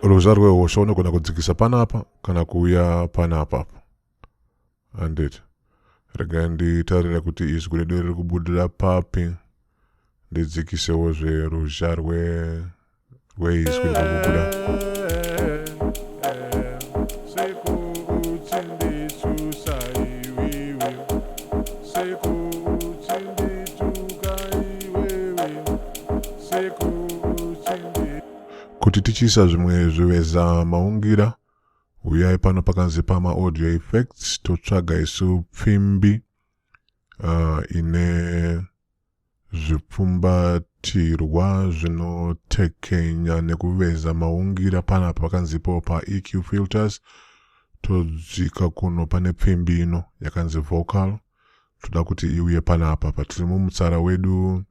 ruzha rwehosha unogona kudzikisa panapa kana kuuya panapa handiti regai nditarire kuti izwi redu riri kubudira papi ndidzikisewo zveruzha rweizwi riri kubuda kuti tichiisa zvimwe zvivezamaungira Huyai pano pakanzi pama audio effects totsvaga isu pfimbi uh, ine zvipfumbatirwa zvinotekenya nekuveza maungira pana pakanzi ipo pa EQ filters todzika kuno pane pfimbi ino yakanzi vocal toda kuti iuye panapa patiri mumutsara wedu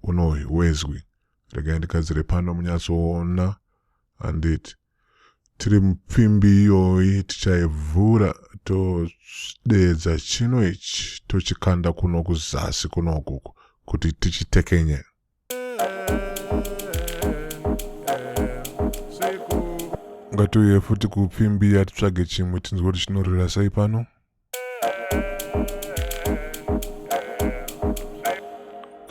uno wezwi regai ndigadzire pano munyatsoona handiti tiri mupfimbi iyoyi tichaivhura todeedza chino ichi tochikanda kuno kuzasi kunoku kuti tichitekenye ngatiuye futi kupfimbi yatitsvage chimwe tinzwe kuti chinorira sei pano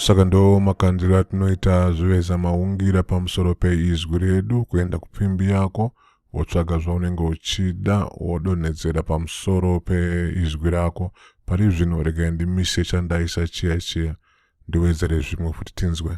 saka ndo makandiro atinoita zviveza maungira pamusoro peizwi redu kuenda kupfimbi yako wotsvaga zvaunenge uchida wodonhedzera pamusoro peizwi rako pari zvino regai ndimise chandaisa chiya chiya ndiwedzere zvimwe futi tinzwe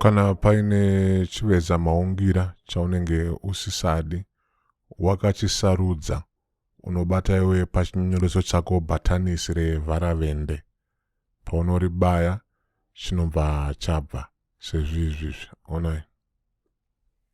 Kana paine chiveza maungira chaunenge usisadi, wakachisarudza, unobata iwe pachinyoreso chako bhatanisi revharavende. Paunoribaya chinobva chabva sezvizvizvi. Onai.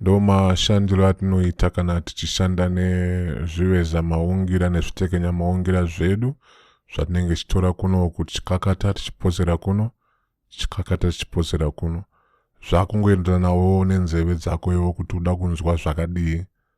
Ndo mashandiro atinoita kana tichishanda nezviveza maungira nezvitekenya maungira zvedu zvatinenge tichitora kuno kuti chikakata tichiposera kuno chikakata tichiposera kuno zvakungoenderanawo nenzeve dzako iwo kuti uda kunzwa zvakadii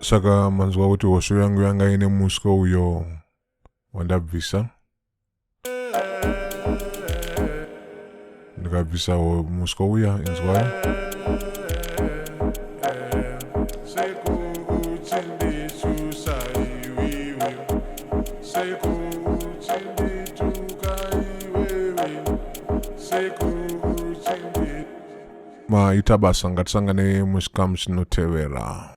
saka manzwa kuti hosho yangu yanga ine muswe uyo wandabvisa ndikabvisa ho- muswe uya inzwai maita basa ngatisangane muchikamu chinotevera